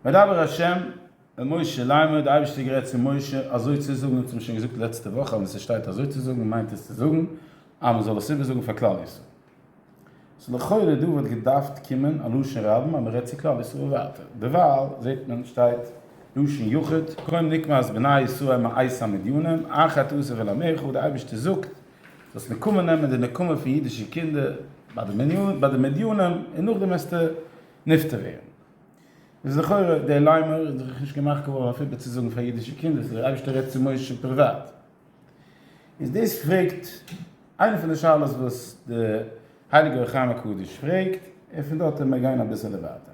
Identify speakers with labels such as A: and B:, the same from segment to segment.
A: וידבר השם אל משה לאמר, דער אייבערשטער האט גערעדט צו משה אזוי צו זאגן, אונז האבן שוין געזאגט לעצטע וואך אז ווען ס'שטייט אזוי צו זאגן מיינט עס צו זאגן אז מען זאל עס איבער זאגן פאר כלל ישראל, סאו לכאורה דא וואלט געדארפט קומען א לשון רבים אז מען רעדט צו כלל ישראל ווייטער, דערווייל זעט מען שטייט לשון יחיד, קוים נקמת בני ישראל מעיסה מדינם, אחת עושה ולאמר חו, דער אייבערשטער זאגט, זאלסט נקמה נעמען די נקמה פון אידישע קינדער ביי די מדינים און נאכדעם וועסטו נפטר ווערן. איז לכאורה דער ליימער איז דאך נישט געמאכט געווארן אויף איבערצוזאגן פאר אידישע קינדער, ס'איז דער אייבערשטער רעדט צו משה פריוואט. איז דאס פרעגט איינע פון די שאלות וואס דער הייליגער אור החיים הקדוש פרעגט, און פון דארט וועלן מיר גיין אביסעלע ווייטער.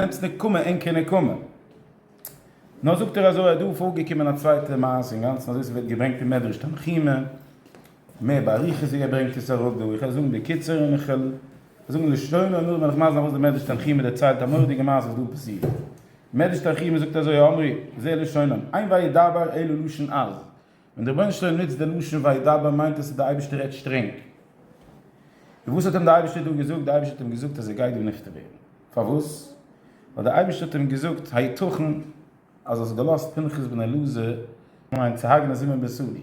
A: נעמטס נקמה אין כנקמה. נאר זאגט ער אזוי אז דא פארגעקומען א צווייטע מעשה אינגאנצן אזוי ס'ווערט געברענגט אין מדרש תנחומא, מער באריכות ווי ער ברענגט עס אראפ דא, איך וועל זאגן בקיצור און איך וועל זאגן לשונו און נאכדעם וועל איך מסביר וואס דער מדרש תנחומא דערציילט א מורא'דיגע מעשה וואס דא פאסירט. מדרש תנחומא זאגט אזוי האמרי, זה לשונם, אין וידבר אלו לשון אז, ווען דער רבונו של עולם נוצט די לשון וידבר מיינט עס אז דער אייבערשטער רעדט שטרענג. און וואס האט אים דער אייבערשטער דא געזאגט? דער אייבערשטער האט אים געזאגט אז ער גייט דא נפטר ווערן. פארוואס? ווייל דער אייבערשטער האט אים געזאגט היתכן אז האסט געלאזט פנחס בן אלעזר מיין צו הרג'נען זימען בן סאלי?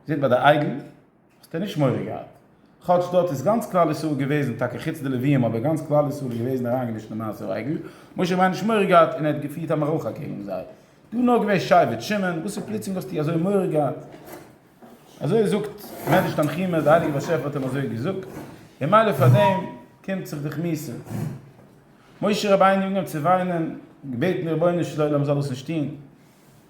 A: זעט ביי די אייגן. האסט ער נישט מורא געהאט. כאטש דארט איז גאנץ כלל ישראל געוועזן, טאקע חוץ די לוויים, אבער גאנץ כלל ישראל איז געוועזן אריינגעמישט אין מעשה העגל, משה וויין נישט מורא געהאט און ער האט געפירט א מערכה אקעגן זיי. דא נאר געווען שבט שמעון, וואס איז פלוצלינג האסטו אזוי מורא געהאט? אזוי זאגט מדרש תנחומא, די הייליגע באשעפער האט אים אזוי געזאגט, און מילא פאר דעם קומט זיך דיך מוסר? משה רבינו אנגעהויבן צו וויינען, געבעטן די רבונו של עולם זאל עס נישט טון.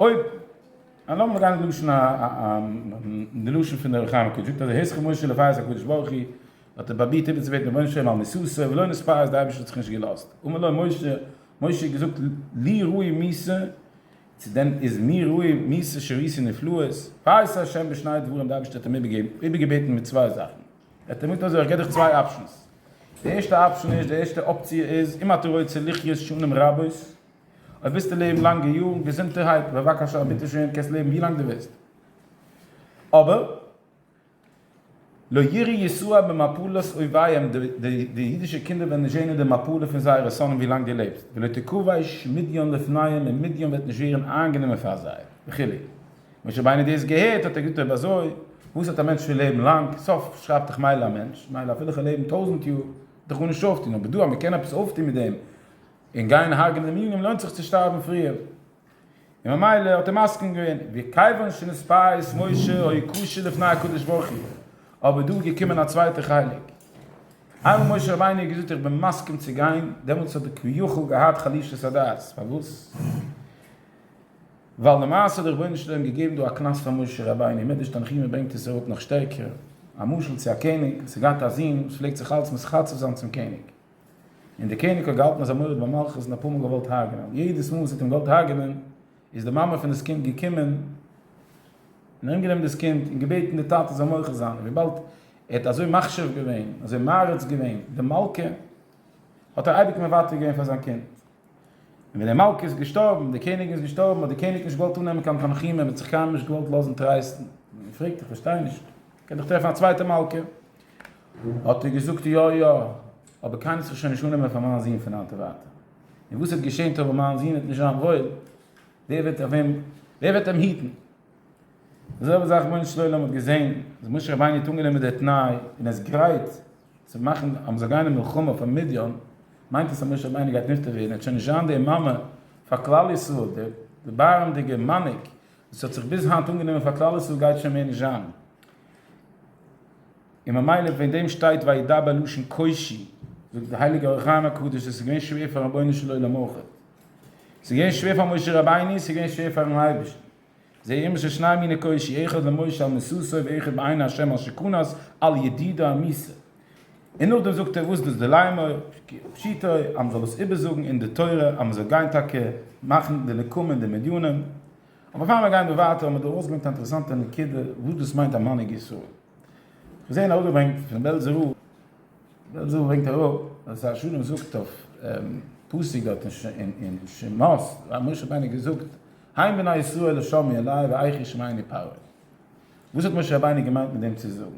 A: אויב אן האבן מ'גייט נישט דרש'ן א די לשון פון די אור החיים הק' זאגט אז היזכר משה לפאר אז הקדוש ברוך הוא האט ער פראבירט איבערצובעטן רבונו של עולם על מסתו ולא נספה אז די אייבערשטער האט זיך נישט געלאזט אמר לו משה משה האט געזאגט לי ראוי מיסה צו דען איז מיר ראוי מיסה שראיתי נפלאות פארס השם בשני דברים די אייבערשטער האט אים איבערגעבעטן מיט צוויי זאכן ער האט אים געזאגט אזוי איך גיב דיך צוויי אפשענס די ערשטע אפשען איז די ערשטע אפציע איז אם אתה רוצה לחיות שנים רבות אויב ווילסטו לעבן לאנגע יארן געזונטערהייט, בבקשה ביטע שוין קענסט לעבן ווי לאנג דו ווילסט, אבער לא ירא יסוע במפלת אויביהם, די אידישע קינדער וועלן נישט זען אין די מפלה פון זייערע שונאים ווי לאנג דו לעבסט, ולא תכבוש מדיין לפניהם, און מדיין וועט נישט ווערן איינגענומען פאר זיי, וכו'. משה רבינו האט דאס געהערט, האט ער געזאגט אויב אזוי וואס האט א מענטש פון לעבן לאנג, סוף שרייבט דאך מילא א מענטש, מילא אפילו כ'וועל לעבן טויזנט יאר, וועט דאך גארנישט אויפטון, אבער דא אז מ'קען עפעס אויפטון מיט דעם, און גיין הרג'ן דעם יונגען לוינט זיך צו שטארבן פריער, און ממילא האט ער מסכים געווען, וכיוון שנספה את משה היה קשה לפני הקדוש ברוך הוא, אבער דא איז געקומען א צווייטע חלק, איינמאל משה רבינו האט געזאגט איך בין מסכים צו גיין, דעמאלטס האט ער כביכול געהאט חלישת הדעת, פארוואס? ווייל למעשה האט דער רבונו של עולם געגעבן דא א קנס פאר משה רבינו, מדרש תנחומא ברענגט עס אראפ נאך שטערקער, א משל צו א קעניג וואס האט געהאט א זון וואס פלעגט זיך אלץ מתחצף זיין צום קעניג, און דער קעניג האט געהאלטן אז ער מורד במלכות און אפאר מאל געוואלט הרג'נען, יעדעס מאל וואס ער האט אים געוואלט הרג'נען איז די מאמע פון דאס קינד געקומען און ארום גענומען דאס קינד און געבעטן די טאטע זאל מוחה זיין, און וויבאלד ער האט אזוי מחשיב געווען, אזוי מעריץ געווען די מלכה, האט ער אייביג מוותר געווען פאר זיין קינד. און ווען די מלכה איז געשטארבן, די קעניגן איז געשטארבן, האט דער קעניג נישט געוואלט אננעמען קיין תנחומים, ער האט זיך קיינמאל נישט געוואלט לאזן טרייסטן, און ער פרעגט איך פארשטיי נישט, איך קען דאך טרעפן א צווייטע מלכה, האט ער געזאגט יא יא, אבער קיינער האט זיך שוין נישט אננעמען פאר מיין זון פון היינט און ווייטער. און וואס וועט געשען טאמער מיין זון וועט נישט זיין וואויל, ווער וועט אויף אים, ווער וועט אים היטן? די זעלבע זאך רבונו של עולם האט געזען אז משה רבינו האט אנגענומען די תנאי און ער איז גרייט צו מאכן אז מען זאל גיין אין מלחמה פאר מדיין, מיינט עס אז משה רבינו גייט נפטר ווערן, עס וועט שוין נישט זיין די מאמע פאר כלל ישראל, די דערבארעמדיגע מנהיג וואס האט זיך ביז היינט אנגענומען פאר כלל ישראל גייט שוין מער נישט זיין, און ממילא וועגן דעם שטייט וידבר לשון קושי, זאגט די הייליגע אור החיים הקדוש עס איז געווען שווער פאר רבונו של עולם אויך, עס איז געווען שווער פאר משה רבינו, עס איז געווען שווער פארן אייבערשטן, זעי אימער שוין שניי מיני קושי, אחד למשה על מסוסו ואחד בעיני ה' על שכונת על ידידו המיסר, און נאכדעם זאגט ער וואס דאס די לימור פשיטא אז מ'זאל דאס איבערזאגן אין די תורה אז מ'זאל גיין טאקע מאכן די נקמה אין די מדיינים, אבער פאר מיר גייען דא ווייטער האט מען דא ארויסגעברענגט א אינטערעסאנטע נקודה וואס דאס מיינט א מנהיג ישראל. כ'האב געזען אראפגעברענגט פון בעלזער רב, בעלזער רב ברענגט אראפ אז שר שלום זאגט אויף פסוק דארט אין שמות אז משה רבינו האט געזאגט הן בני ישראל לא שמעו אלי ואיך ישמעני פרעה, וואס האט משה רבינו געמיינט מיט דעם צו זאגן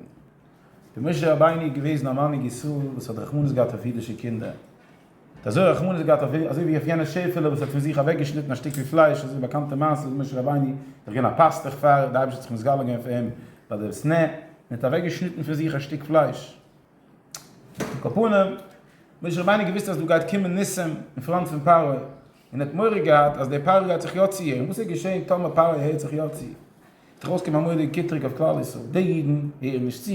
A: ווי משה רבינו איז געוועזן א מנהיג ישראל וואס האט רחמנות געהאט אויף אידישע קינדער, ער האט אזוי רחמנות געהאט אויף אזוי ווי אויף יענע שעפעלע וואס האט פון זיך אוועק געשניטן א שטיקל פלייש, אזוי די באקאנטע מעשה ווי משה רבינו איז געווען א פאסטוך פאר די אייבערשטער האט זיך מסגלה געווען פאר אים ביי די סנה און האט אוועק געשניטן פון זיך א שטיק פלייש. על כל פנים, משה רבינו האט געוואוסט אז דא גייט קומען ניסים אין פראנט פון פרעה, און ער האט מורא געהאט אז דער פרעה גייט זיך יא ציערן, וואס איז געשען טאמער פרעה הערט זיך יא צו? וועט ארויס קומען א מוראדיגע קיטרוג אויף כלל ישראל, די אידן הערן נישט צו,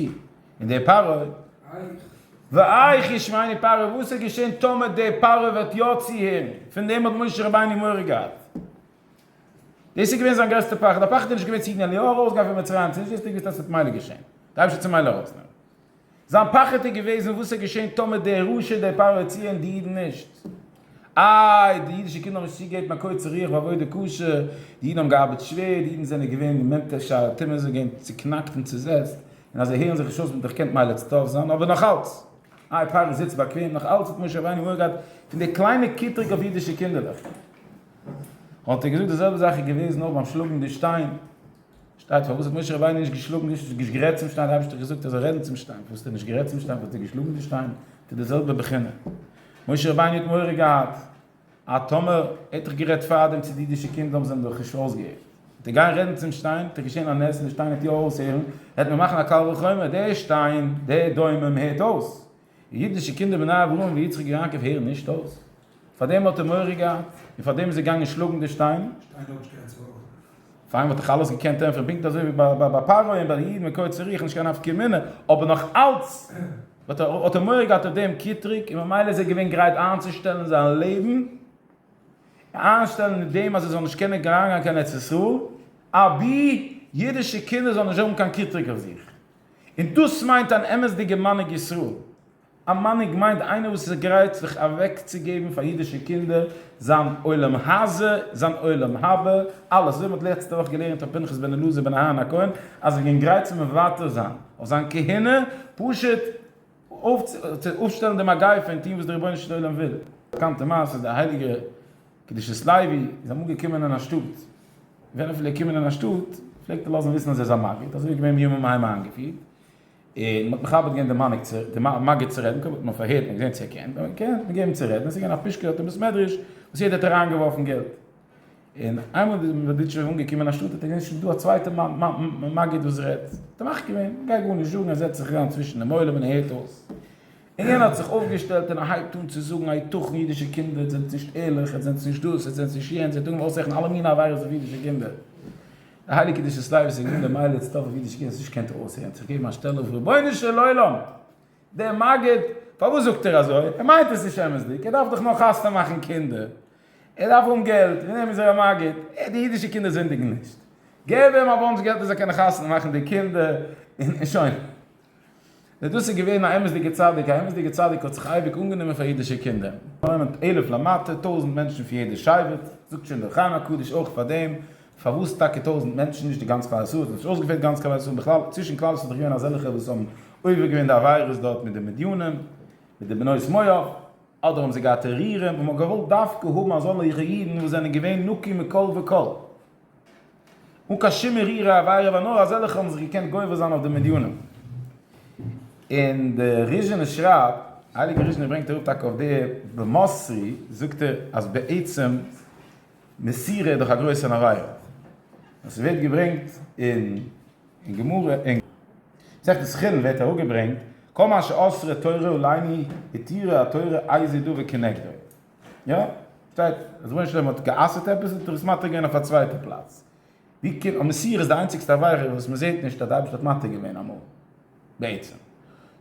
A: און דער פרעה, ואייך איר שוויינער פרעה, וואס איז געשען טאמער דער פרעה וועט יא צוהערן, פון דעם האט משה רבינו מורא געהאט, דאס איז געווען זיין גרעסטע פחד, דער פחד איז נישט געווען צו איר געבן אליהו ארויסגיין פון מצרים, צו נישט וויסנדיג וואס דאס וועט מילא געשען, דער אייבערשטער צו מילא ארויסנעמען. זיין פחד איז געוועזן וואס איז געשען טאמער דער רשע דער פרעה צי און די אידן נישט. איי, די אידישע קינדער האבן נישט צוגעגעבן א קוצר רוח ביי עבודה קשה, די אידן האבן געארבעט שווער, די אידן זענען געווען אין מטה שער תימן, זיי זענען געווען צוקנאקט און צוזעצט, און אז זיי הערן זיך נישט אויס מיט איך קענט מילא צוטארף זיין, אבער נאך אלץ. איי, פרעה זיצט באקוועם, נאך אלץ האט משה רבינו מורא געהאט פון די קליינע קטרוג אויף אידישע קינדערלעך. האט ער געזאגט די זעלבע זאך איז געוועזן אויך ביים שלאגן די שטיין. שטייט פארוואס האט משה רבינו נישט געשלאגן די שטיין, נישט גערעדט צום שטיין, די אייבערשטער האט געזאגט ער זאל רעדן צום שטיין, פארוואס האט ער נישט גערעדט צום שטיין, פארוואס האט ער געשלאגן די שטיין, ס'איז די זעלבע בחינה, משה רבינו האט מורא געהאט אז טאמער ער האט דאך גערעדט פארדעם צו די אידישע קינדער האבן זיי אים דאך נישט אויסגעהערט, וועט ער גיין רעדן צום שטיין, וועט דאך געשען א נס און די שטיין וועט יא אויסהערן, וועט מען מאכן א קל וחומר, דער שטיין, דער דומם הערט אויס, די אידישע קינדער בני אברהם ויצחק ויעקב הערן נישט אויס, פארדעם האט ער מורא געהאט, און פארדעם איז ער געגאנגען שלאגן די שטיין. פאר אים וואלט איך אלעס געקענט ענטפערן פונקט אזוי ווי ביי פרעה און ביי די אידן מקוה צריח, נישט קיין נפקא מינה, אבער נאך אלץ האט ער מורא געהאט אויף דעם קיטרוג, און ממילא איז ער געווען גרייט איינצושטעלן זיין לעבן, איינשטעלן מיט דעם אז ער זאל נישט קענען אריינגיין קיין ארץ ישראל, אבי אידישע קינדער זאלן נישט האבן קיין קיטרוג אויף זיך. און דאס מיינט אן אמת'דיגע מנהיג ישראל. א מנהיג מיינט איינער וואס איז גרייט זיך אוועקצוגעבן פאר אידישע קינדער, זיין עולם הזה, זיין עולם הבא, אלעס. אזוי ווי מ'האט לעצטע וואך געלערנט אויף פנחס בן אלעזר בן אהרן הכהן, אז ער גענג גרייט זיך מוותר זיין אויף זיין כהונה, פשוט אויף צו אפשטעלן די מגיפה און טון וואס דער רבונו של עולם וויל. א באקאנטע מעשה איז דער הייליגער קדושת לוי איז אמאל געקומען אין א שטאט, ווען ער פלעגט קומען אין א שטאט פלעגט ער לאזן וויסן אז ער איז א מגיד, אזוי איז געווען בימים ההם איינגעפירט, און מ'האט מכבד געווען די מגיד צו רעדן, קודם האט מען פארהערט און געזען צו ער קען, ווען ער קען האט מען געגעבן אים צו רעדן, עס איז געווען א פושקע אויפן בית מדרש וואס יעדער האט אריינגעווארפן געלט, און איינמאל איז דער מזודיטשובער אנגעקומען אין א שטאט האט ער געזען ס'איז דא א צווייטע מגיד וואס רעדט, האט ער מחכים געווען, גיי גארנישט זאגן, ער זעצט זיך אריין צווישן דעם עולם און ער הערט אויס. און יענער האט זיך אויפגעשטעלט און ער הייבט אן צו זאגן היתכן אידישע קינדער איר זענט נישט ערליך, איר זענט נישט דאס, איר זענט נישט יענץ, איר טוט מיר אויסרעכענען אלע מינע עבירות אויף אידישע קינדער. די הייליגע קדושת לוי זאגט נישט די מעלה איז צו טאפן אויף אידישע קינדער האסט נישט געקענט איר אויסרעכענען זיך געבן א שטעלע אויף רבונו של עולם דער מגיד פארוואס זאגט ער אזוי ער מיינט עס נישט אמת'דיג ער דארף דאך נאר חתונה מאכן קינדער ער דארף האבן געלט פון דעם איז ער א מגיד די אידישע קינדער זינדיגן נישט געב אים א באנטש געלט ער זאל קענען חתונה מאכן די קינדער און שוין. און דאס איז געווען א אמת'דיגע צדיק, א אמת'דיגע צדיק האט זיך אייביג אנגענומען פאר אידישע קינדער. נעמט עלף למטה, טויזנט מענטשן פון יעדע שבט, זאגט שוין דער חיים הקדוש אויך פאר דעם, פארוואס טאקע טויזנט מענטשן, נישט די גאנץ כלל ישראל, עס האט נישט אויסגעפעלט גאנץ כלל ישראל, בכלל צווישן כלל ישראל איז דאך געווען אזעלכע וואס האבן עובר געווען די עבירות דארט מיט די מדיינים, מיט די בנות מואב, אדער האבן זיי געהאט טערארעם, און מען האט געוואלט דווקא האבן אזאלכע אידן וואס זענען געווען נקי מכל וכל. אן קיין שום מערירע עבירה ווייל נאר אזעלכע האבן זיך געקענט גובר זיין אויף די מדינים. און די ריזשינער שרייבט, הייליגער ריזשינער ברענגט אראפ טאקע אויף די במוסרי זאגט ער אז בעצם מסירה איז דאך א גרויסע עבירה. עס ווערט געברענגט אין אין גמרא אין מסכת סוכין ווערט אראפגעברענגט כל מה שאסרה תורה אולי מי התירה התורה איזהו דא וכנגדו. יא, שטייט אז משה רבינו האט גע'אסר'ט עפעס האט ער עס מתיר געווען אויף א צווייטע פלאץ. ווי קומט אז מסיר איז די איינציגסטע עבירה וואס מען זעט נישט אז די אייבערשטער האט מתיר געווען אמאל? בעצם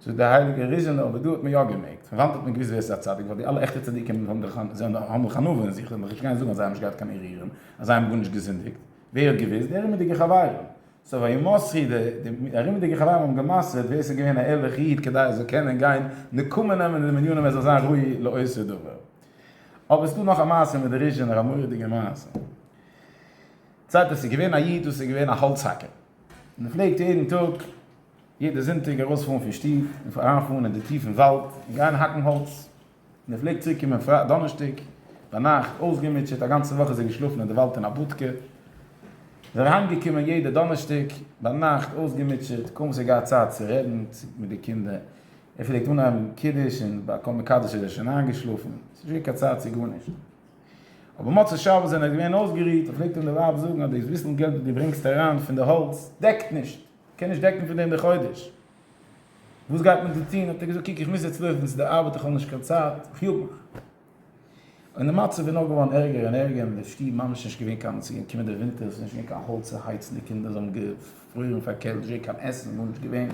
A: זאגט דער הייליגער ריזשינער אבער דא האט מען יא געמעגט. פון וואנט האט מען געוואוסט ווער ס'איז א צדיק? ווייל די אלע עכטע צדיקים האבן דאך האבן דאך ענווה אין זיך, זיי וועלן דאך נישט גיין זאגן אז זיי האבן נישט געהאט קיין ערעורים, אז זיי האבן גארנישט געזינדיגט. ווער האט געוואוסט? די ארומידיגע חברים. סא ווען ימסרי די די ארומידיגע חברים האבן געמסר'ט ווער ס'איז געווען א ערליכע איד כדי ער זאל קענען גיין נקמה נעמען אין די מניינים ער זאל זיין ראוי לעושה דבר. אבער ס'דא נאך א מעשה מיט די ריזשענער א מורא'דיגע מעשה. זייט עס איז געווען א איד וואס איז געווען א האלץ האקער. און ער פלעגט יעדן טאג, יעדע זונטאג ארויספארן פון שטוב און אריינפארן אין די טיפן וואלד און גיין האקן האלץ. און ער פלעגט צוריקקומען פרייטאג דאנערשטאג ביינאכט אויסגעמוטשעט, א גאנצע וואך איז ער געשלאפן אין די וואלד אין א בודקע, איז ער אהיימגעקומען יעדע דאנערשטאג ביינאכט אויסגעמוטשעט, קוים איז ער געהאט צייט צו רעדן מיט די קינדער, ער פלעגט אנהייבן קידוש און ביי כל מקדש איז ער שוין איינגעשלאפן, עס איז נישט געווען קיין צייט צו גארנישט. אבער מוצאי שבת ווען ער איז געווען אויסגערוהט, פלעגט אים די ווייב זאגן אז דאס ביסל געלט וואס דו ברענגסט אריין פון די האלץ דעקט נישט, קען נישט דעקן פון דעם די חודש. וואס גייט מען דא טון? האט ער געזאגט, קוק איך מוז יעצט לויפן צו די ארבעט איך האב נישט קיין צייט, איך יאג מיך. און די מצב איז נאר געווארן ערגער און ערגער און די שטוב ממש נישט געווען קיין צו קומען די ווינטער ס'נישט געווען קיין האלץ צו הייצן די קינדער זיי האבן געפרוירן פאר קעלט נישט געווען קיין עסן גארנישט געווען.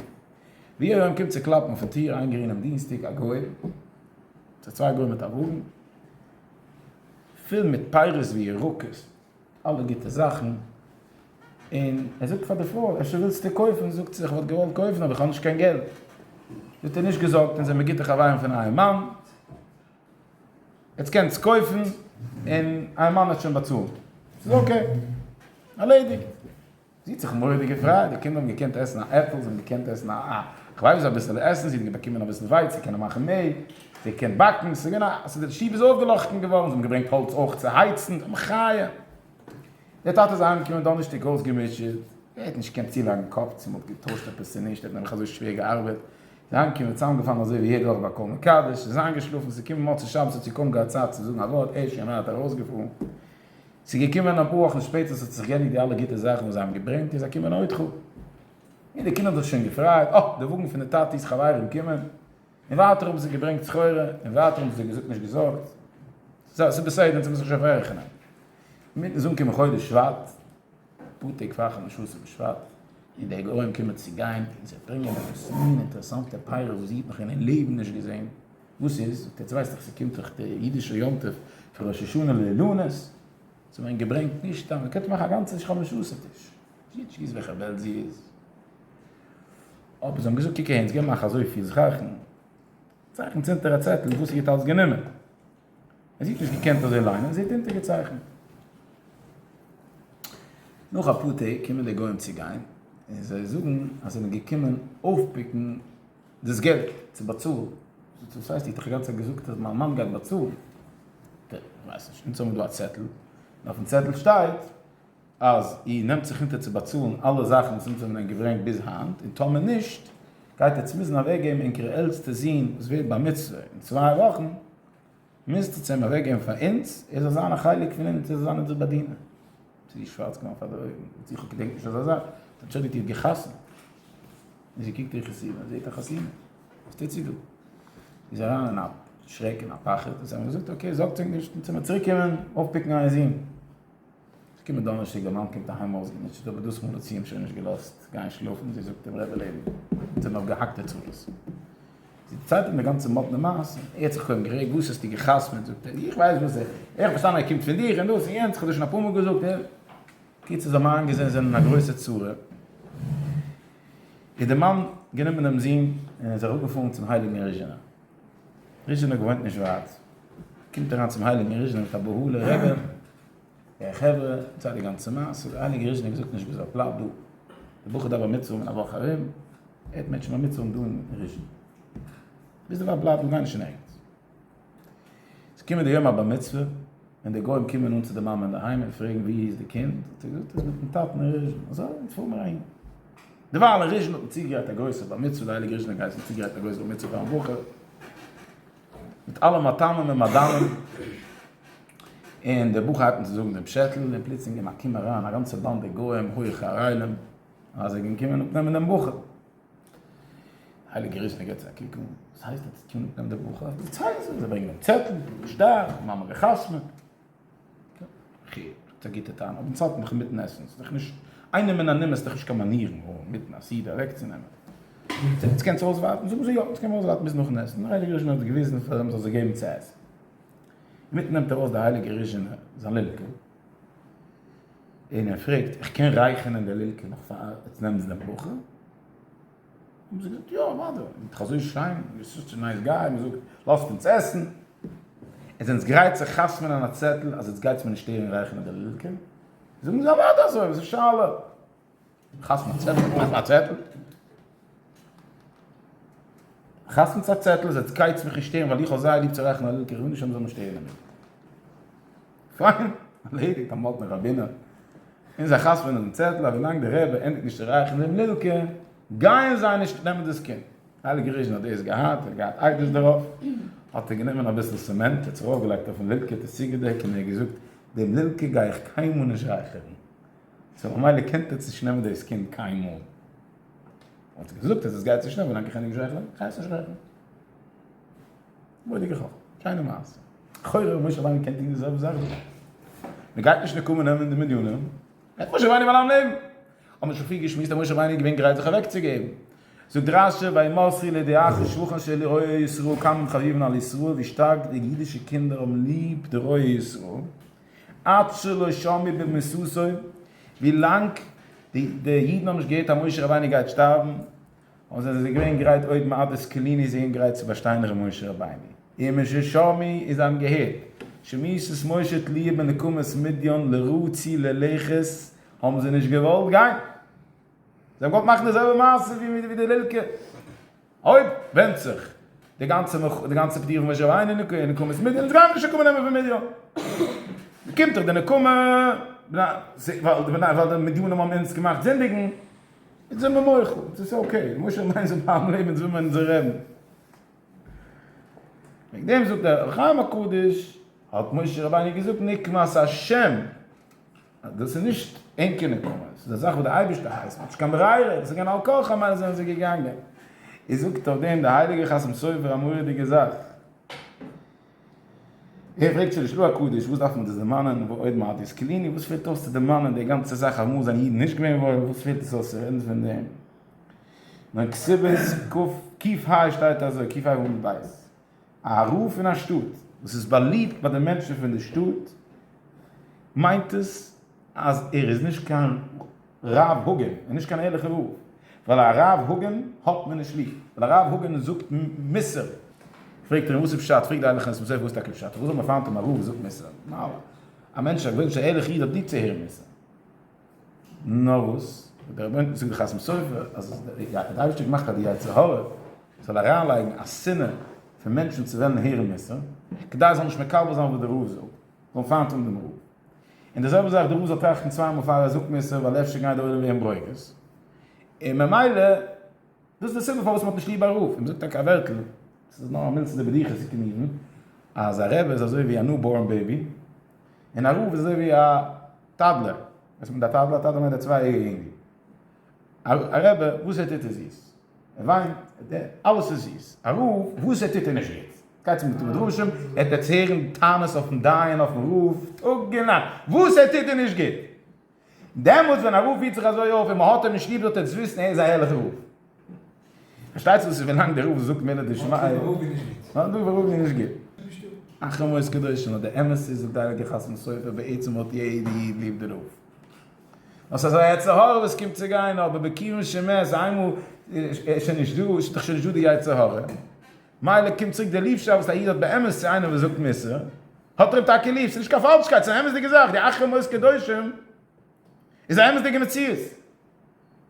A: ווי ארום קומט צו קלאפן אויפן טיר איינגערינען אום דינסטאג א גוי צו צוויי גוים מיט א וואגן פול מיט פירות וירקות. אלע גוטע זאכן, און ער זאגט פאר די פרוי, אפשר ווילסטו קויפן? זאגט זי, איך וואלט געוואלט קויפן, אבער איך האב נישט קיין געלט. זאגט ער, נישט געזארגט, אונז זעמיר גוטע חברים פון אייער מאן, עטס קענטס קויפן, און אייער מאן וועט שוין באצאלן. ס'איז אקעי, ארלעדיגט. זי האָט זיך מוראדיק געפֿרייט. די קינדער האָבן געקענט עסן אַ עפֿל, זיי האָבן געקענט עסן אַ כּלבֿ, אַ ביסל עסן, זי האָט געבאַקומען אַ ביסל ווייץ, זי קענען מאַכן מעל, זי קען באַקן, ס'איז געווען אַ ס'איז די שטוב איז אויפֿגעלאָכטן געוואָרן, זיי האָבן געברענגט האָלץ אויך צו הייצן, אַ מחיה! דער טאַטע איז אַהיימגעקומען דאָנערשטיק אויסגעמוטשעט. ער האָט נישט געקענט צולייגן די קאָפּ, צי מע האָט געטוישט עפּעס, צי נישט, ער האָט נעבעך אַזוי שווער געאַרבעט. ער איז אַהיימגעקומען צוזאַמגעפֿאַלן אַזוי ווי יעדער וואָך ביי קול-מקדש, איז איינגעשלאָפֿן, ס'איז געקומען מוצאי-שבת, האָט זי קוים געהאַט צייט צו זאָגן אַ וואָרט, ער איז שוין ווייט אַרויסגעפֿאָרן. ס'איז געקומען אפאר וואכן שפעטער ס'האט זיך געענדיגט די אלע גוטע זאכן וואס זיי האבן געברענגט איז אקומען א אויטחא און די קינד האט זיך שוין געפרייט אה די וואגן פון די טאטי'ס חברים קומען און ווייטער האבן זיי געברענגט סחורה און ווייטער האבן זיי געזאגט נישט געזארגט זיי ס'איז בסדר אונז האבן זיך שוין פארעכענען אינמיטן איז אנגעקומען חודש שבט אפאר טעג פאר חמשו עשר בשבט און די גוים קומען צו גיין און זיי ברענגען עפעס מין אינטערעסאנטע פירות וואס זי האט נאך אין איר לעבן נישט געזען. וואס איז? זאגט ער, יעצט ווייסט איך ס'קומט דאך די אידישע יום טוב פון ראש השנה לאילנות, ס'האט מען געברענגט נישט סתם, מ'קען דאך מאכן א גאנצע שכמה שעות'ער טיש, גיט שמועס וועלכע וועלט זי איז. אבער זיי האבן געזאגט, קוק אהן, ס'געבן אייך אזויפיל זככן, צייכנט אונטער א צעטל וואס איר האט אלץ גענומען. אז איר האט נישט געקענט אזוי ליינען, זעט אונטערגעצייכנט. נאך אפאר טעג קומען די גוים צו גיין, און זיי זאגן אז זיי זענען געקומען אויפפיקן, דאס געלט צו באצאלן. וואס הייסט? איך האב דאך גאנצע צייט געזאגט אז מיין מאן גייט באצאלן. ט, כ'ווייס נישט. אונז האבן דא א צעטל, און אויפן צעטל שטייט אז איר נעמט זיך אונטער צו באצאלן אלע זאכן וואס אונז האבן ענק געברענגט ביז היינט, און טאמער נישט, גייט עטס מוזן אוועקגעבן ענקער עלטסטע זון וואס ווערט בר מצוה אין צוויי וואכן, מוזט עס אים אוועקגעבן פאר אונז, ער זאל זיין א חלק פון אונז, ער זאל זיין אונזער באדינער. ס'איז איר שווארץ געווארן פאר די אויגן, זאגט זי, כ'געדענק נישט אזא זאך, אנטשולדיגט איר געחתמ'ט? און זי קוקט איר חתימה און זעט א חתימה, וואס טוט זי דא? זי איז אריין אין א שרעק און א פחד, און זיי האבן געזאגט, אקעי, זארגטס אייך נישט, אונז וועלן צוריקקומען אויפפיקן אייער זון. כ'קום דאנערשטאג, די מאן קומט אהיים אויסגעמוטשעט, אבער דאס מאל האט זי אים שוין נישט געלאזט גיין שלאפן, זי זאגט אים רעדע לעבן, עס זענען נאך געהאקטע צרות. זי דערציילט אים די גאנצע מאדנע מעשה, ער האט זיך קוים גערעגט, וואס האסטו גע'חתמ'עט, זאגט ער, איך ווייס וואס, איך האב פארשטאנען ער קומט פון דיך און דאס און יענץ, איך האב דיר שוין אפאר מאל געזאגט, ער. קיצער זיי האבן איינגעזען זיי זענען אין א גרויסע צרה, איז די מאן גענומען דעם זון און זיך אפגעפארן צום הייליגן ריזשינער, ריזשינער געוואוינט נישט ווייט, קומט אריין צום הייליגן ריזשינער מיט א בהלה, רבי, הער חברה, זיי די גאנצע מעשה, די הייליגע ריז'ניק זאגט נישט ביז ער פלאפט דא, דער בחור דארף א מצרום אין א וואך ארום, ער האט מענטשן ביי מצרום דא אין ריז'ין, ביז דערווייל בלייב דא, גיי נישט אין ערגעץ. ס'איז געקומען די יום הבר מצוה, און די גוים קומען אן צו די מאמע אינדערהיים און פרעגן ווי איז די קינד, האט זי געזאגט ער איז מיטן טאטן אין ריז'ין, אזוי, יעצט פאר מיר אהין. דערווייל אין ריז'ין האט מען צוגעגרייט א גרויסע בר מצוה, די הייליגע ריז'ניק גייסן האבן צוגעגרייט א גרויסע בר מצוה פארן בחור, מיט אלע מטעמים ומדנים, און דער בחור הייבט אן צו זאגן דעם פשעטל, און פלוצלינג אין א קום אריין א גאנצע באנדע גוים הויעכע ארעלים, אז זיי גייען קומען אפנעמען דעם בחור. הייליגע ריזשנער געבט זיי א קוק אן, וואס הייסט עטס קומען אפנעמען דעם בחור? זיי ברענגען אים צעטל, דו ביסט שטארק, מאמע גע'חתמ'עט. חי', האט א גוטע טענה, אבער צייט מיך אינמיטן עסן, ס'איז דאך נישט, איינעמען א נומער איז דאך נישט קיין מאנירן און אינמיטן א סעודה אוועקצונעמען. יעצט קענטס אויסווארטן? זאגן זיי יא, יעצט קען מען אויסווארטן ביז נאכן עסן, דער הייליגער ריזשינער האט געוויזן פאר אים ער זאל זיי געבן צו עסן. אינמיטן נעמט ארויס דער הייליגער ריזשינער זיין לילקע און ער פרעגט, איך קען רייכענען די לילקע נאך פאר עטס נעמטס די ברכה? האבן זיי געזאגט, יא אוודאי, מען זאגט דאך אזוי שיין, יו אר סאטש א נייס גיי, מען זאגט לאזט אונז עסן, עס זענטס גרייט צו חתמ'ענען א צעטל אז יעצט גייטס מיר נישט הערן רייכן אדער לילקען? זאגן זיי, אוודאי אזוי, וואס איז שאלה? חתמ'נטס א צעטל, מאכט א צעטל, חתמ'נטס א צעטל אז יעצט גייטס מיך נישט הערן ווייל איך האב זייער ליב צו רייכן א לילקע, איך וויל נישט אז מען זאל מיר שטערן דערמיט. פיין, ארלעדיגט, אמאל האט דער ראבינער אין זיין חתונה אויפן צעטל אז ווילאנג דער רבי ענדיגט נישט צו רייכן דעם לילקע גייען זיי נישט נעמען דאס קינד. הייליגער ריזשין האט דאס געהאט, ער האט געהאט איידעס דערויף, האט ער גענומען אביסל צעמענט, ער האט זיך אויפגעלייגט אויפן לילקע, האט עס צוגעדעקט און ער האט געזאגט, דעם לילקע גיי איך קיינמאל נישט רייכערן, סאו ממילא קען עטס נישט נעמען דאס קינד קיינמאל. ער האט זיך געזאגט אז עס גייט נישט אן ווילאנג איך ענדיג נישט רייכערן, גיי איך עס נישט רייכערן. מורא'דיגע חכמה, שיינע מעשה. לכאורה האט משה רבינו געקענט טון די זעלבע זאך דא. מען גייט נישט נקמה נעמען די מדיינים, גייט משה רבינו פארלאנגען לעבן. האט מען שוין פריער געשמועסט אז משה רבינו איז געווען גרייט זיך אוועקצוגעבן. זאגט רש י וימסרי לידי אחי שבחן של רועי ישראל כמה חביבין על ישראל ווי שטארק די אידישע קינדער האבן ליב די רועי ישראל עד שלא שמעו במסותו, ווי לאנג די אידן האבן נישט געהערט אז משה רבינו גייט שטארבן, און זיי זענען געווען גרייט עוד מעדת כליני זיי געווען גרייט צו באשטיין ר' משה רבינו און משה שמי און זיי האבן געהערט שמיסת משה תליה בנקמת מדיין לרע צי ללכת האבן זיי נישט געוואלט גיין זיי האבן געוואלט מאכן די זעלבע מעשה ווי די לילקע אויב ווענדט זיך די גאנצע די גאנצע פטירה פון משה רבינו אין נקמת מדיין איז גאנץ נישט נקמה נעמען פון מדיין קומט דאך די נקמה ווייל די מדיינים האבן אונז געמאכט זינדיגן. אונז זעמער מוחל, אונז איז אקעי, משה מיין זיי בלייבן לעבן אונז וויל מען אונזער רעבן. וועגן דעם זאגט דער אור החיים הקדוש, האט משה רבינו געזאגט נקמת ה', אז דאס איז נישט ענקער נקמה, עס איז א זאך וואס דער אייבערשטער הייסט, מען האט נישט קיין ברירה, עס איז געווען על כרחם מיילדעס זענען זיי געגאנגען. איז זאגט אויף דעם דער הייליגער חתם סופר א מורא'דיגע זאך. ער פרעגט שוין נישט לו הקדוש וואס דארף מען דאס דערמאנען ועוד מעט יזכירני וואס פעלט אויס צו דערמאנען די גאנצע זאך אמאל זענען אידן נישט געווען וואויל וואס פעלט עס אויס צו רעדן פון דעם ווען כסבת ק ח שטייט אזוי ק ח עמוד ב' א רב פון א שטאט וואס איז באליבט ביי די מענטשן פון די שטאט מיינט עס אז ער איז נישט קיין רב הגון און נישט קיין ערליכער רב, ווייל א רב הגון האט מען נישט ליב, ווייל א רב הגון זאגט מוסר, פרעגט ער אים וואס איז פשט, פרעגט די ערליכע אנשי מוסר וואס איז טאקע פשט, פארוואס זאל מען פיינט אים א רב וואס זאגט מוסר, ממילא א מענטש א גוי'איש א ערליכע איד האט ליב צו הערן מוסר, נאר וואס דער רבי'ן זאגט די חתם סופר אז דער אייבערשטער האט געמאכט אז די יצר הרע זאל אריינלייגן א שנאה פון מענטשן צו וועלן הערן מוסר, כדי זאל נישט מקבל זיין וואס דער רב זאגט, זאלן פיינט האבן דעם רב. און די זעלבע זאך דא, מ'זאל טראכטן צוויי מאל פאר ער זאגט מוסר, ווייל אפשר גייט דער עולם ווערן ברוגז, און ממילא דאס איז די סיבה פארוואס מ'האט נישט ליב א רב, און מ'זאגט טאקע א ווערטל, עס איז נאר א מילתא דבדיחותא צו מיינען אז א רבי איז אזוי ווי א ניו בארן בעיבי, און א רב איז אזוי ווי א טאדלער, וואס מיינט א טאדלער? א טאדלער מיינט א צוויי יעריגע אינגל. א רעבע וואס ער טוט איז זיס, ער וויינט, ער דערט, אלעס איז זיס, א רב וואס ער טוט איז נישט גוט, גייטס אין בתי מדרשים, עטץ הערן טענות אויפן דיין אויפן רב טאג און נאכט, וואס ער טוט איז נישט גוט, דעמאלטס ווען א רב פירט זיך אזוי אויף און מען האט אים נישט ליב זאלט עטץ וויסן ער איז א הערליכע רב, פארשטייטס דאס איז ווילאנג דער רב זאגט מילה דשמיא, מאן דכר הרגו איז נישט גוט. אחרי מות קדושים, אבער די אמת איז זאגט די הייליגע חת ם סופר בעצם האט יעדע איד ליב די רב, נאר סאיז א יצר הרע וואס קומט צו גיין, אבער בקיום של מת איינמאל איז שוין נישט דא, איז דאך שוין נישט דא די יצר הרע, מילא קומט צוריק די ליבשאפט וואס א איד האט באמת צו איינעם וואס זאגט מוסר, האט ער אים טאקע ליב, סאיז נישט קיין פאלשקייט, סאיז א אמת'דיגע זאך, די אחרי מות קדושים איז א אמת'דיגע מציאות,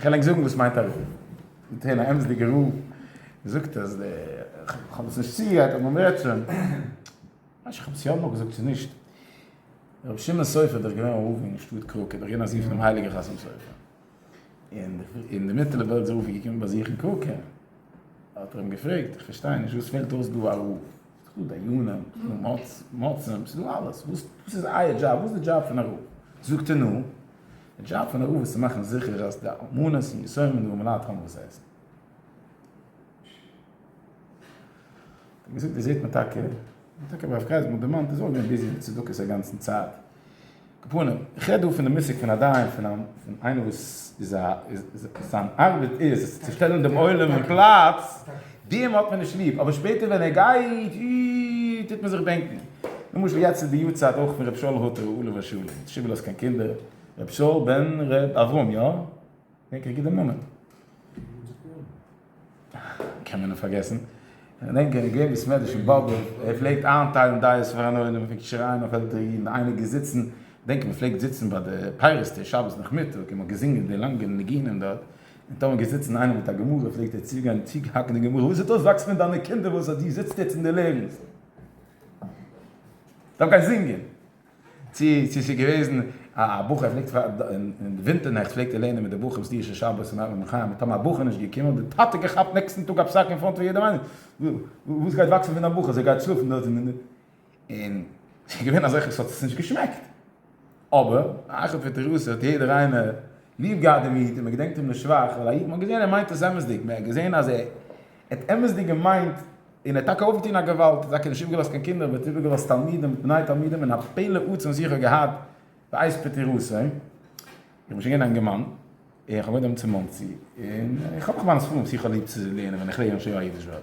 A: כ'על ענק זאגן וואס מיינט א רב. מיט אן אמת'דיגע רב זאגט אז די, כ'האב עס נישט צוגעגרייט אבער מ'רעדט שוין. כאטש כ'האב עס יא אמאל געזאגט צו נישט. רבי שמעון סופר איז דאך געווען רב אין שטאט קראקע, דאך געווען א זון פונעם הייליגער חתם סופר. און די מיטעלע וועלט איז אפי' געקומען באזוכן קראקע. האט ער אים געפרעגט, איך פארשטיי נישט, וואס פעלט אויס דא א רב? ס'איז דאך דא דיינים, ס'איז דא מצות, ס'איז דא אלעס. וואס איז אייער דזשאב? וואס איז די דזשאב פון א רב? זאגט ער, נו. די דזשאב פון א רב איז צו מאכן זיכער אז די אלמנות און יתומים און די אומלייט האבן וואס עסן. ווי געזאגט דאס זעט מען טאקע, און טאקע הרב קרייז האט מיר דערמאנט דאס איז אויך געווען ביזי מיט צדקות א גאנצן צייט. קאפונער, איך רעד דא פון די מושג פון א דיין, פון איינער וואס זיין ארבעט איז צו שטעלן דעם עולם אין פלאץ, דעם האט מען נישט ליב, אבער שפעטער ווען ער גייט אי טוט מען זיך בענקן. למשל יעצט איז די יארצייט אויך פון ר' שאול הוטער עליו השלום, האט שיבעלע האסט קיין קינדער? ר' שאול בן ר' אברהם יא? דענק איך גוט דעם נאמען? קען מען אים פארגעסן? כ'דענק ער איז געווען בסמעדרעש אין באבוב, ער פלעגט איינטיילן דייעס פאר אן עולם, ער פלעגט שרייען אויף עלטערע אידן, איינער גייט זיצן, כ'דענק מ'פלעגט זיצן ביי די פייערס טיש שבת נאכמיטאג און מ'האט געזינגען די לאנגע ניגונים דארט, און טאמער גייסט זיצן איינער מיט א גמרא פלעגט ער צוריק גיין צוריק האקן די גמרא, וואס זעט אויס וואקסט מיט דיינע קינדער וואס אז דו זיצט יעצט און דו לערנסט דארף גיין זינגען, צו צו ס'איז געוועזן א בחור פלעגט אין די ווינטער נעכט פלעגט ער לערנען מיט די בחורים סדירשע שבת און מהר א און חיים און טאמער א בחור נישט געקומען האט די טאטע געכאפט נעקסטן טאג א פסק אין פראנט פון יעדעם איינעם, וואס גייט וואקסן פון א בחור אז ער גייט שלאפן דארט און. און ס'איז געווען אזעלכע וואס האט עס נישט געשמעקט, אבער אחר פטירתו האט יעדער איינער ליב געהאט דעם איד און מען געדענקט אים לשבח, ווייל א איד, מען האט געזען ער מיינט עס אמת'דיג, מען האט געזען אז ער האט אמת'דיג געמיינט, און ער האט טאקע אויפגעטון א געוואלד, ער האט טאקע נישט איבערגעלאזט קיין קינדער, אבער ער האט איבערגעלאזט תלמידים ובני תלמידים, און א פלא עצום זיך האט געהאט בעת פטירתו, איך בין שוין געווען א אינגער מאן, און כ'האב געוואוינט דעמאלטס אין מאנסי, און איך האב נאך מיינע ספרים וואס איך האב ליב צו לערנען ווען איך לערן שוין א אידיש ווארט.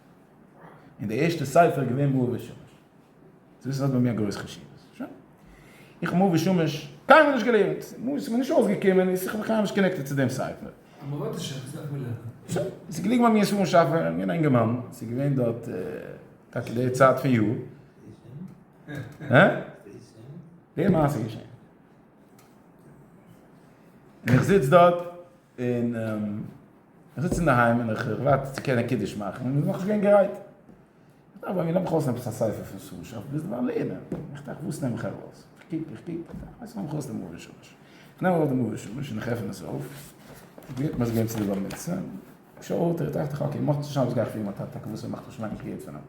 A: און די ערשטע ספר איז געווען מאור ושמש. צו וויסן האט ביי מיר א גרויס חשיבות. שוין. איך האב מאור ושמש קיינמאל נישט געלערנט. מאור ס'מיר נישט אויסגעקומען איז איך האב בכלל נישט קאנעקטעד צו דעם ספר. עבודת השם וואס
B: דארף מען לערנען? שוין. ס'איז געליגן ביי מיר ספרים
A: שאפע. איך בין א אינגערמאן. ס'איז געווען דארט טאקע די צייט פון יאר. הא? די מעשה איז געשען. און איך זיץ דארט. און איך זיץ אינדערהיים און איך ווארט צו קענען קידוש מאכן און מ'איז נאכנישט געווען גרייט. איך דאכט ביי מיר, נעם איך ארויס עפעס א ספר פון סארא שעה, ביז דערווייל לערנען. איך טראכט וואס נעם איך ארויס? איך קוק, איך קוק, איך ווייס נישט, נעם איך ארויס דעם מאור שמש. איך נעם ארויס דעם מאור שמש און איך עפן עס אויף, איך גלעט מיר עס געבן צו די בר מצוה, איך שאל אויף דער טראכט איך אקעי, מאכט נישט אויס וואס גיי איך טון מיט מיין טאטע, טאקע וואס ער מאכט נישט מיינע קריאות פון אים.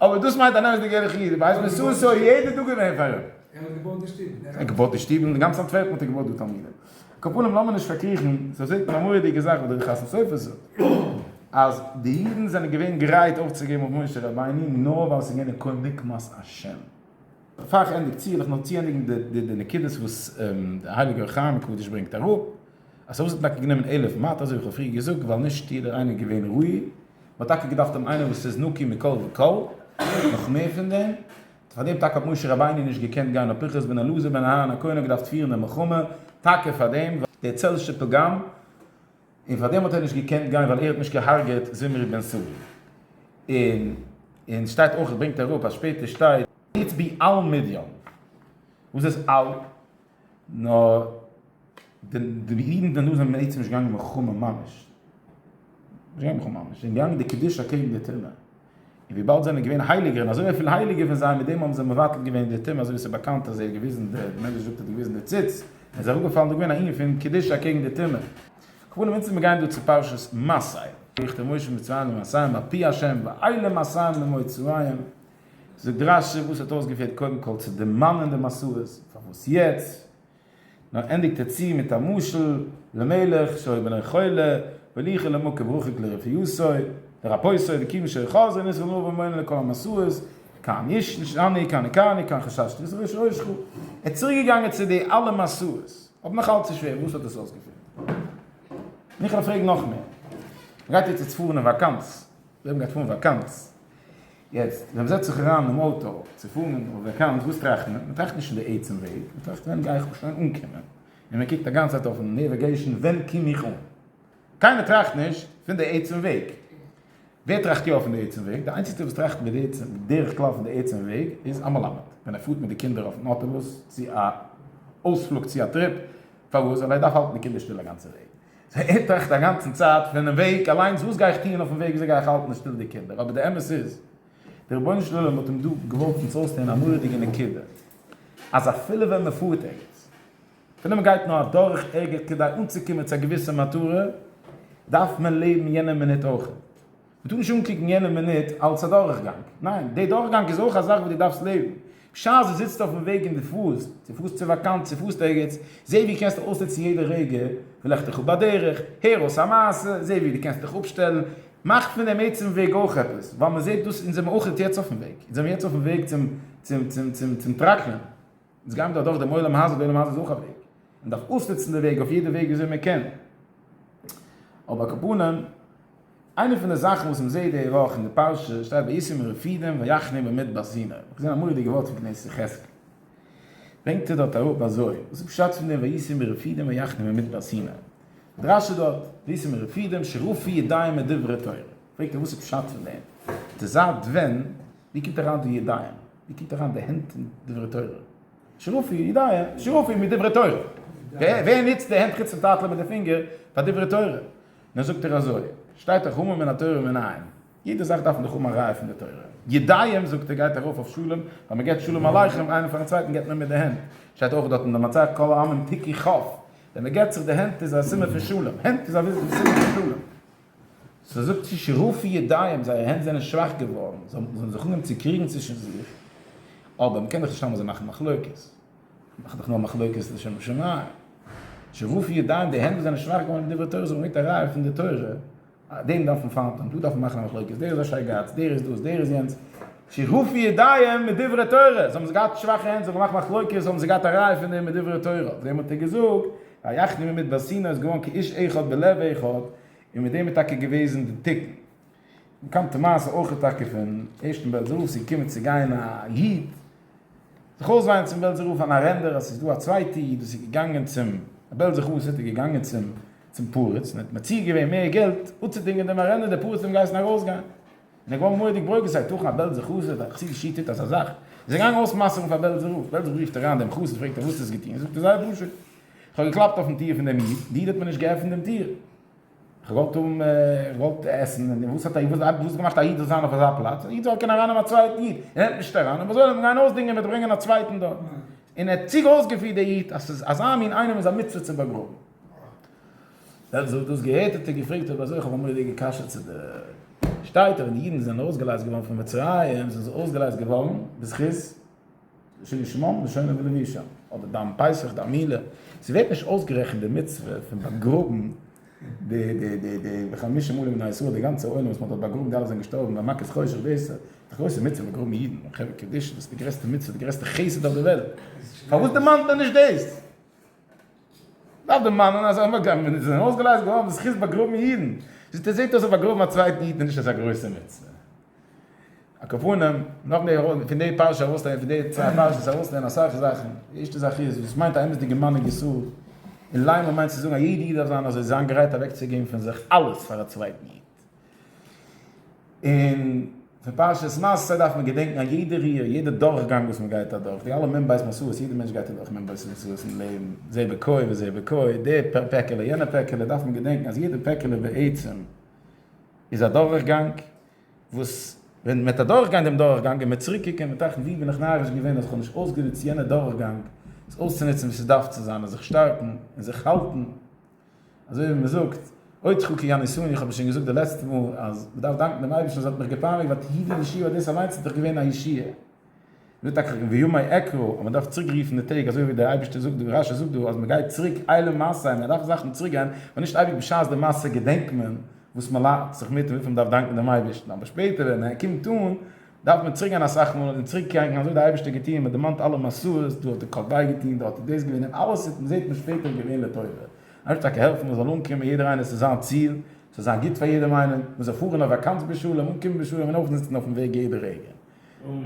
A: אבער דאס מיינט א אמת'דיגע ערליכע איד, ער ווייסט וואס סאו סאו יעדע טאג געווען פאר אים. ער האט געבויט די שטוב.
B: ער האט געבויט די שטוב און גאנץ
A: אנטווערפן האט ער געבויט די תלמידים. קאפאנעם לאמיר נישט פארקריכן, סא זעט מען א מורא'דיגע זאך וואס דער חתם סופר זאגט, אז די אידן זענען געווען גרייט אויפצוגעבן אויף משה רבינו נאר ווייל ס'איז געווען א קול נקמת השם. בעפאר איך ענדיג צו וויל איך נאר צוענדיגן די נקודות וואס דער הייליגער חיים מקודש ברענגט אראפ, אז ס'האט אויסער טאקע גענומען אלף מאת אזוי ווי איך האב פריער געזאגט ווייל נישט יעדער איינער איז געווען ראוי, מ'האט טאקע געדארפט האבן איינער וואס איז נקי מכל וכל, נאך מער פון דעם, פאר דעם טאקע האט משה רבינו נישט געקענט גיין נאר פנחס בן אלעזר בן אהרן הכהן האט געדארפט פירן די מלחמה, טאקע פאר דעם, ווייל דער צל של פגם. און פאר דעם האט ער נישט געקענט גיין ווייל ער האט נישט געהארגעט זמרי בן סאלי. און און שטייט אויך ברענגט ער אראפ אז שפעטער שטייט. איצט בי אל מדיין וואס איז אל נאר די אידן דערנאך זענען בעצם נישט געגאנגען מלחמה ממש נישט געגאנגען מלחמה ממש זיי זענען געגאנגען די קדושה קעגן די טומאה. און וויבאלד זיי זענען געווען הייליגער און אזוי אפיל הייליגער פון זיי מיט דעם האבן זיי מבטל געווען די טומאה אזוי ווי עס איז באקאנט אז ער האט געוויזן די די מדרש זאגט ער האט געוויזן די ציץ און עס איז אראפגעפאלן דא געווען א ענין פון קדושה אקעגן די טומאה. כבוד אונז מיר גייען דא צו פרשת מסעי. ויכתב משה מצרים למסעיהם על פי השם ואי למסעיהם למצרים זאגט רשי וואס האט אויסגעפירט קודם כל צו דערמאנען די מסעות פארוואס יעצט, נאר ענדיגט ער צו מיט א משל למלך שהיה בנו חולה וליכה למקום רחוק לרפאותו לרפאותו וקיוו שהיה חזיר ניסו עליו ומאינו אלא כל המסעות כאן יש אני כאן כאן כאן חששתי וזה ראש ראש חו ער איז צוריק געגאנגען צו די אלע מסעות אבער נאך אלץ איז שווער וואס האט עס אויסגעפירט? מיכאל פרעג נאך מער. מ'גייט יעצט פארן אין וואקאנץ. ר' לייב גייט פארן וואקאנץ. יעצט ווען מ'זעצט זיך אריין אינעם אויטא צו פארן אין די וועקאנס, וואס טראכט מען? מ'טראכט נישט אין די עצם וועג, מ'טראכט ווען גיי איך שוין אנקומען, און מ'קוקט א גאנצע צייט אויפן נעוועגעישן ווען קום איך אן. קיינער טראכט נישט פון די עצם וועג. ווער טראכט יא פון די עצם וועג? די איינציגסטער וואס טראכט בדרך כלל פון די עצם וועג איז א מלמד, ווען ער פארט מיט די קינדער אויפן אוטובוס צו א אויספלוג צו א טריפ, פארוואס? ווייל ער דארף האלטן די קינדער שטיל א גאנצע וועג. זיי עטרעכט אגאנצן צייט פונעם וועג אליינס וואס גיי איך טוען אויפן וועג וויאזוי גיי איך האלטן די שטיל די קינדער אבער די אמת איז די רבונו של עולם האט אים דא געוואלט אונז אויסלערנען א מורא'דיגע נקודה אז אפילו ווען מען פארט ערגעץ אפילו מען גייט נאר אדורך ערגעץ כדי אנצוקומען צו א געוויסע מטרה דארף מען לעבן יענע מינוט אויכעט. מ'טאר נישט אנקוקן יענע מינוט אלס א דורכגאנג, ניין, די דורכגאנג איז אויך א זאך וואס דו דארפסט לעבן. בשעת דו זיצט אויפן וועג און דו פארסט, צו פארסט צו וואקאנץ, צו פארסט ערגעץ, זעה ווי קענסטו אויסנוצן יעדע רגע וואס לעכט דיך אפ בדרך, הער אויס א מעשה, זעה ווי דו קענסט דיך אפשטעלן, מאך פון דעם עצם וועג אויך עפעס, ווייל מ'זעט דאס, אונז זעמיר אויך יעצט אויפן וועג, אונז זעמיר יעצט אויפן וועג צום טראקטער, אונז גיימיר דאך דורך דעם עולם הזה, די עולם הזה איז אויך א וועג, מען דארף אויסנוצן די וועג אויף יעדע וועג וויאזוי מען קען. אבער על כל פנים, איינע פון די זאכן וואס מען זעט די וואך אין די פרשה, שטייט וישם רפידים ויחנו במדבר סינא, איך האב געזען א מורא'דיגע ווארט פון כנסת יחזקאל, ברענגט ער דארט אראפ אזוי, וואס איז פשט פון דעם וישם רפידים ויחנו במדבר סינא? דרשו דארט, וישם רפידים שרפו ידיים מדברי תורה, פרעגט ער וואס איז פשט פון דעם? די זייט ווען, ווי קומט אריין די ידיים? איר קומט אריין די הענט אין דברי תורה? שרפי, יודיי, שרפי מיט דברי תורה. ווער ניצט די הענט חוץ פון טאטעלע מיט די פינגער פאר דברי תורה? נא זאגט ער אזוי, שטייט דאך המה מן התורה ומן העם, יעדע זאך דארף מען דאך האבן א ראיה פון די תורה. ידיים זאגט ער גייט ארויף אויף שלום, ווען מען געבט שלום עליכם איינער פארן צווייטן געבט מען מיט די הענט, שטייט אויך דארט אין די מצות כל העמים תיקי כ', ווען מען געבט זיך די הענט איז א סימן פון שלום, הענט איז א סימן פון שלום. זי זאגט צו שרופי ידיים, זייערע הענט זענען שוואך געווארן, זיי האבן זיך אנגעהויבן צו קריגן צווישן זיך, אבער מ'קען דאך נישט אלעמאל אזוי מאכן מחלוקת, מאך דאך נאר מחלוקת לשם שמים, שרופי ידיים, די הענט וואס זענען שוואך געווארן דברי תורה זאגן מיט א ראיה פון די תורה, דעם דארף מען פארנטען, דא דארף מען מאכן א מחלוקת, דער איז א שייגאץ, דער איז דאס, דער איז יענץ, שרופי ידיים מיט דברי תורה, זיי האבן געהאט שוואכע הענט, זיי האבן געמאכט מחלוקת, האבן זיי געהאט א ראיה פון דעם מיט דברי תורה, אויף דעם האט ער געזאגט. ויחני ממדבר סיני איז געווארן כאיש אחד בלב אחד, און מיט דעם איז טאקע געוועזן די תיקון. באקאנטע מעשה אויך איז טאקע פון ערשטן בעלזער רב ס'איז געקומען צו גיין א איד זיך אויסוויינען צום בעלזער רב אן ארענדער אז ס'איז דא א צווייטע איד וואס איז געגאנגען צום בעלזער חסיד איז געגאנגען צום פרץ און האט מציע געווען מער געלט אפצודינגען דעם ארענדער דער פרץ האט אים געהייסן ארויסגיין. און ער געווארן מורא'דיג ברוגז זייט תוכן א בעלזער חסיד א חסידישע איד טוט אזא זאך, איז ער געגאנגען אויסמסר'ן פאר בעלזער רב, בעלזער רב רופט אריין דעם חסיד פרעגט אים וואס האסט געטון, זאגט ער זייער פשוט, איך האב געקלאפט אויפן טיר פון דעם איד, די איד האט מיר נישט געעפנט דעם טיר, איך האב געוואלט האבן, איך האב געוואלט עסן, און וואס האט געמאכט א איד זאל זיין אויף אזא פלאץ, א איד זאל קענען ארייננעמען א צווייטן איד, ער נעמט נישט אריין, און וואס זאל ער דען גיין אויסדינגען מיט ברענגען א צווייטן דארט, און ער האט צוג אויסגעפירט די איד אז ס'איז אזא מין איינעם איז א מצוה צו באגראבן. ווען זי האט דאס געהערט האט ער געפרעגט אויב אזוי, איך האב א מורא'דיגע קשיא צו דיר, שטייט אז ווען די אידן זענען ארויסגעלייזט געווארן פון מצרים זענען זיי ארויסגעלייזט געווארן בזכות שני שמעון ושני ולוי שם, אבער ביים פסח די מילה, עס ווערט נישט אויסגערעכנט די מצוה פון באגראבן די די די די וחמשה עולים מבני ישראל די גאנצע עולם וואס מען האט דארט באגראבן די אלע זענען געשטארבן ביי מכת חושך דאס איז די גרויסע מצוה באגראבן אידן און חברה קדישא דאס איז די גרעסטע מצוה די גרעסטע חסד אויף די וועלט פארוואס דערמאנט מען נישט דאס? דארף דערמאנען אז אויף אגם ווען עס איז ארויסגעלייזט געווארן די זכות באגראבן אידן, זעט אויס אז אויף באגראבן א צווייטן איד איז נישט אזא גרויסע מצוה. על כל פנים, נאך די ארויס פון די פרשה ארויסלערנען פון די צוויי פרשות ארויסלערנען אסאך זאכן, די ערשטע זאך איז וואס מיינט א אמת'דיגע מנהיג ישראל, און לייען מיינט צו זאגן אז יעדע איד דארף זיין אזוי זיין גרייט אוועקצוגעבן פון זיך אלעס פאר א צווייטן איד. און פון פרשת מסע דארף מען געדענקן א יעדע ריר, יעדע דורכגאנג וואס מען גייט אדורך, די אלע מ ב מסעות, יעדע מענטש גייט אדורך מ ב מסעות אין לעבן, זה בקוי וזה בקוי, די פעקעלע, יענע פעקעלע, דארף מען געדענקן אז יעדע פעקעלע בעצם איז א דורכגאנג, וואס ווען מען האט אדורכגעגאנגען דעם דורכגאנג און מען איז צוריק געקומען ווען מען טראכט ווי בין איך נאריש געווען אז איך האב נישט אויסגענוצט יענע דורכגאנג, עס אויסצונוצן ווי ס'איז דארף צו זיין, און זיך שטארקן, און זיך האלטן. אזוי ווי מען זאגט, עוד חוקי הנישואין, איך האב עס שוין געזאגט די לעצטע מאל, אז מען דארף דאנקן דעם אייבערשטן אז ער האט מיך געפייניגט, ווייל תהי' די ישועה, דאס אליינס איז דאך געווען א ישועה. מען זאגט טאקע וימי עקרו, אז מען דארף צוריק רופן די טעג, אזוי ווי דער אייבערשטער זאגט דא, רשי זאגט דא, אז מען גייט צוריק עולם מעשי, מען דארף זאכן צוריק גיין, און נישט אייביג בשעת די מעשה געדענקט מען וואס מען לאכט זיך מיט און וויפיל מען דארף דאנקן דעם אייבערשטן, אבער שפעטער ווען ער קומט אן, דארף מען צוריק גיין אסאך מאל און צוריק קענקן אזוי האט די אייבערשטער געטון מען דערמאנט אלע מסעות דא האט ער קאפ וויי געטון דארט איז דאס געווען און אלעס איז זעט מען שפעטער געווען לטובה אייבערשטער טאקע העלפן מען זאל אנקומען יעדער איינער צו זיין ציל ס'זאל זיין גוט פאר יעדעם איינעם מען זאל פארן אויף וואקאנץ בשלום אנקומען בשלום און אויפזיצן אויפן וועג יעדע רגע.